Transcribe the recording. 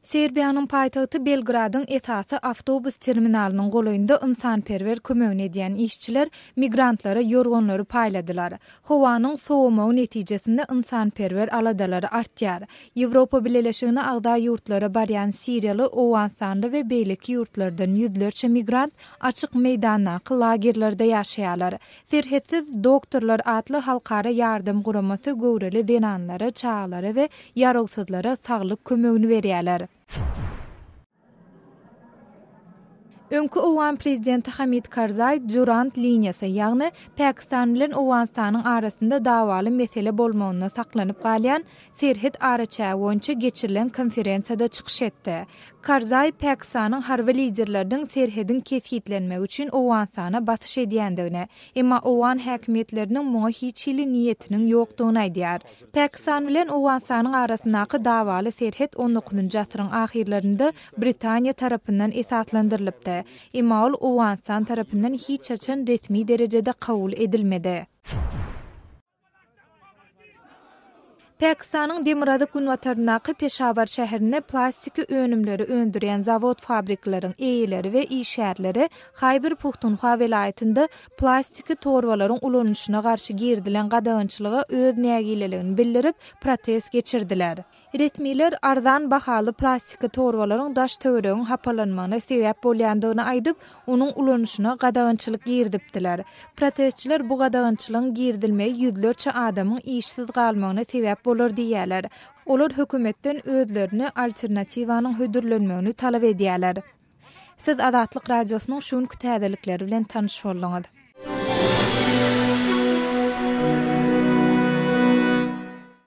Serbiýanyň paýtagty Belgradyň esasy awtobus terminalynyň golaýynda ynsanperwer kömegini edýän işçiler migrantlara ýorganlary paýladylar. Howanyň sowamagy netijesinde ynsanperwer aladalary artýar. Ýewropa Bileleşigine agza ýurtlara barýan siriýaly, owganystanly we beýleki ýurtlardan ýüzlerçe migrant Açyk meýdandaky lagerlerde ýaşaýarlar. Serhetsiz doktorlar atly halkara ýardam guramasy göwreli zenanlara, çagalara we ýarawsyzlara saglyk kömegini berýärler. Öňki owgan prezidenti Hamid Karzaý Durant liniýasy, ýagny Pakistan bilen Owganystanyň arasynda dawaly mesele bolmagynda saklanyp galýan serhet araçägi boýunça geçirilen konferensiýada çykyş etdi. Karzaý Pakistanyň harby liderleriniň serhediň kesgitlenmegi üçin Owganystana basyş edýändigini, emma owgan häkimiýetleriniň muňa hiç hili niýetiniň ýokdugyny aýdýar. Pakistan bilen Owganystanyň arasyndaky dawaly serhet on dokuzynjy asyryň ahyrlarynda Britaniýa tarapyndan esaslandyrylypdy, emma ol Owganystan tarapyndan hiç haçan resmi derejede kabul edilmedi. Pakistanyň demirgazyk-günbataryndaky Peşawar şäherinde plastiki önümleri öndürýän zawod-fabrikleriň eýeleri we işgärleri Haýber Puhtunhwa welaýatynda plastiki torbalaryň ulanyşyna garşy girizilen gadagançylyga öz nägileligini bildirip, protest geçirdiler. Resmiler arzan bahaly plastiki torbalaryň daş-töweregiň hapalanmagyna sebäp bolýandygyny aýdyp, onuň ulanyşyna gadagançylyk girizipdiler. Protestçiler bu gadagançylygyň girizilmegi ýüzlerçe adamyň işsiz galmagyna sebäp bolar diýýärler. Olar hökümetden özlerine alternatiwanyň hödürlenmegini talap edýärler. Siz Azatlyk Radiosynyň şu günki täzelikleri bilen tanyş bolduňyz.